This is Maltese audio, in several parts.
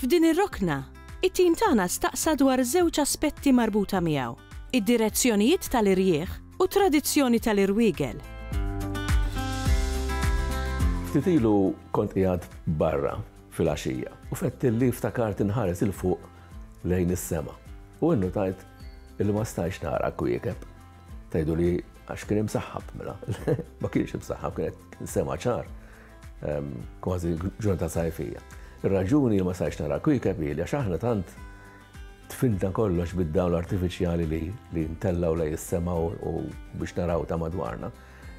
F'din ir-rokna, it-tim tagħna staqsa dwar żewġ aspetti marbuta miegħu, id-direzzjonijiet tal-irjieħ u t-tradizzjoni tal-irwiegel. Ftit ilu kont qiegħed barra filgħaxija u fettilli ftakart inħares 'il fuq lejn is-sema u innutajt illi ma stajtx nara l-kwiekeb. Tgħiduli għax kien imsaħħab mela, ma kienx imsaħħab kien sema ċar. kważi ġurnata sajfija. Ir-raġuni ma sajx nara kwikeb li għax aħna tant tfinta kollox bid-dawl artifiċjali li li ntellaw lej is-semaw u biex naraw ta' madwarna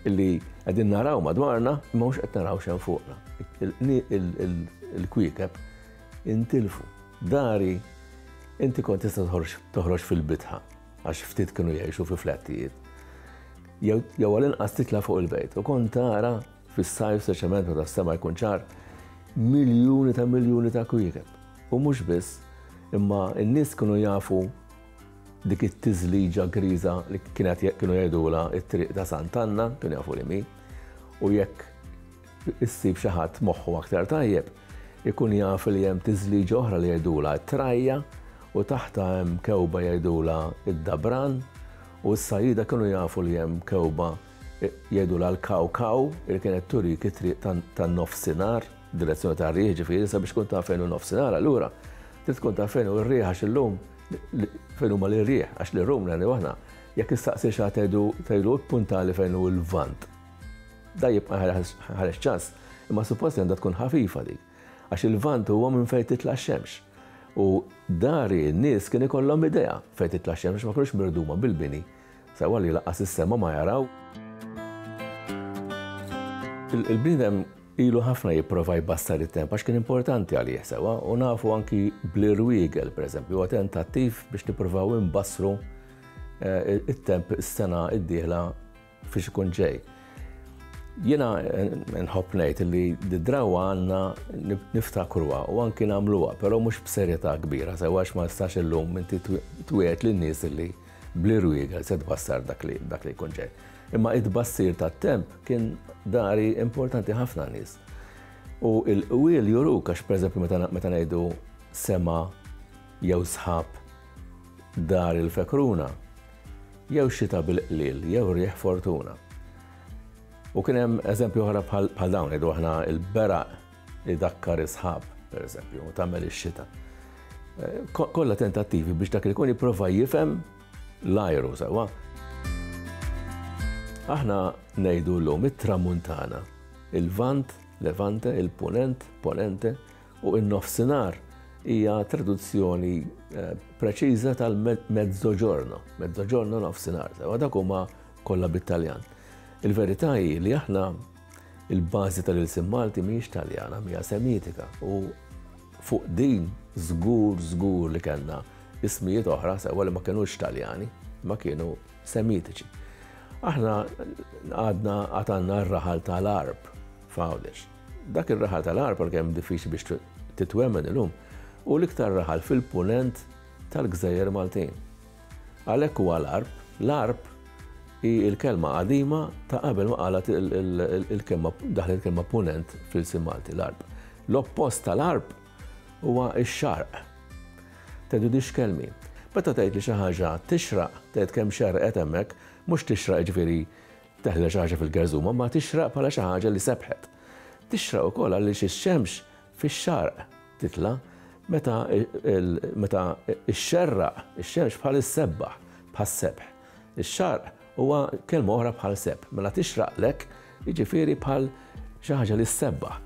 illi qegħdin naraw madwarna ma mhux qed naraw xejn fuqna. Il-kwiekeb intilfu. Dari inti kont tista' toħroġ fil-bitħa għax ftit kienu jgħixu fi flattijiet. Jew għal-inqas titla' fuq il-bejt u kont tara Fis-sajf, speċjalment meta s-sema jkun ċar, miljuni ta' miljuni ta' kwiekeb. U mhux biss, imma n-nies kienu jafu dik it-tiżliġa griża li kienet kienu jgħidulha t-triq ta' Sant'Anna, kienu jafu li mi, u jekk issib xi ħadd moħħu aktar tajjeb, ikun jaf li hemm tiżliġa oħra li jgħidulha t-trajja u taħta hemm kewba jgħidulha id-dabran u s-sajjida kienu jafu li hemm kewba Jgħidulha l-Kaw Kaw li kienet turik it-triq tan-nofsinhar, direzzjoni tar-riħ ġifieri, sabiex tkun taf fejn hu nofsinhar allura trid tkun taf fejn hu r-riħ għax illum fejn huma l-irjieħ għax li rum nagħmlu aħna. Jekk nistaqsi xa tgħidu tgħidu puntali fejn hu l-vant. Da jibqa' ħareġ ċans, imma suppost għandha tkun ħafifa dik. Għax il-vant huwa minn fejn titla' xemx. U dari n-nies kien ikollhom idea fejn titla' xemx ma kienux mirduma bil-bini Sewwa li lanqas is-sema ma jaraw. Il-bniedem ilu ħafna jipprova jbassar it-temp għax kien importanti għalih, sewwa, u nafu anki bl-irwiegel, pereżempju, huwa tentattiv biex nippruvaw inbassru eh, it-temp is-sena d-dieħla fiex ikun ġej. Jiena eh, nħobb ngħid li d-drawa għandna niftakruha u anki nagħmluha, però mhux b'serjetà kbira, sewwa għax ma nistax illum inti twiegħed lin-nies li Bl-irwiegel se tbassar dak li dak li jkun ġej. Imma it-tbassir tat-temp kien dari importanti ħafna nies. U il-qwiel juru għax pereżempju meta meta ngħidu sema jew sħab dar il-fekruna jew xita bil-qliel jew rieħ fortuna. U kien hemm eżempju oħra bħal dawn ngħidu aħna il-beraq Idakkar is-sħab, pereżempju, u tagħmel ix-xita. Eh, kollha tentattivi biex dak li jkun jipprova jifhem l-ajru sewa. Aħna ngħidu llum it-tramuntana, il-vant, levante, il-punent, ponente, u in-nofsinhar hija traduzzjoni eh, preċiża tal-mezzoġorno, mezzoġorno nofsinhar, sewa dak huma kollha bit-Taljan. Il-verità hi li aħna Il-bażi tal-ilsien Malti mhijiex Taljana, mija Semitika u fuq din żgur żgur li kellna ismijiet oħra sewwa li ma kinux Taljani, ma kienu Semitiċi. Aħna għadna għatanna r-raħal tal-arb f'Għawdex. Dak ir-raħal tal-arb għal kemm diffiċli biex titwemmen illum u l-iktar raħal fil-punent tal-gżejjer Maltin. Għalhekk huwa l-għarb. L-għarb hi l-kelma qadima ta' qabel ma qalgħet il-kelma daħlet il-kelma punent fl-ilsien Malti, l-għarb. L-oppost tal-għarb huwa x-xarq. Tgħidu di x'kelmi. Meta tgħid li xi ħaġa tixraq, tgħid kemm xerrqet hemmhekk, mhux tixraq jiġifieri teħla xi ħaġa fil-gerżuma, imma tixraq bħala xi ħaġa li sebħet. Tixraq ukoll għaliex ix-xemx fix-Xarq titla' meta meta xxerraq ix-xemx bħal issebbaħ, bħas-sebħ. Ix-Xarq huwa kelma oħra bħal sebħ, mela tixraqlek jiġifieri bħal xi ħaġa li ssebbaħ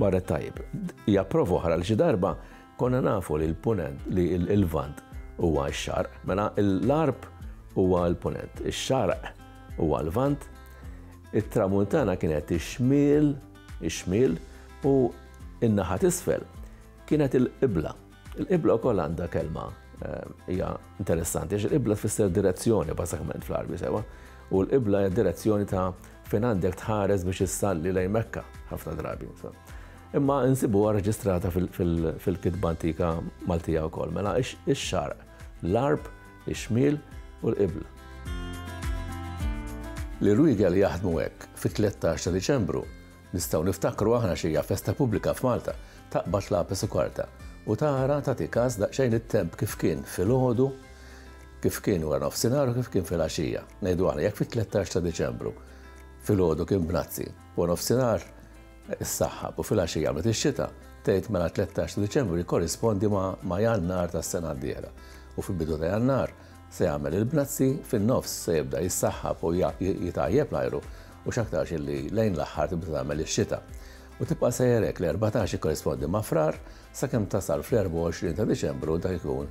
barra t-tajjeb. Hija prova oħra li xi darba konna nafu li l-Punent li l-Lvant huwa x-Xarq, mela l-Għarb huwa l-Punent, ix-Xarq huwa l-Lvant, it-Tramuntana kienet ix-Xmiel ix-Xmil u n-naħa t'isfel kienet il-qibla. Il-qibla wkoll għandha kelma hija interessanti għax il-qibla tfisser direzzjoni bażikament fl-Għarbi sewwa u l-qibla hija direzzjoni ta' fejn għandek tħares biex issalli lejn Mekka ħafna drabi. Imma nsibuha reġistrata fil-kitba antika Maltija wkoll. Mela ix-xarq, l-għarb, ix-xmil u l-qibla. Li Rwigel jaħdmu hekk fit-tlettax ta' Diċembru, nistgħu niftakru aħna x'hija festa pubblika f'Malta, taqbad l-għapes u karta, u tara tagħti kas daqsxejn it-temp kif kien filgħodu, kif kien wara nofsinhar u kif kien filgħaxija. Ngħidu aħna jekk fit-tlettax ta' Diċembru filgħodu kien b'nazzi, wara nofsinhar Issaħħab u filgħaxija għamlet ix-xita, tgħid mela t-tlettax ta' Diċembru jikkorrispondi ma' Jannar tas-sena d-dieħla u fil-bidu ta' Jannar se jagħmel il-bnazzi, fin-nofs se jibda jissaħħab u jitgħajjeb l-ajru u x'aktarx illi lejn l-aħħar tibda tagħmel ix-xita. U tibqa' sejjer hekk, l-erbatax jikkorrispondi ma' Frar sakemm tasal fl-24 ta' Diċembru u dak ikun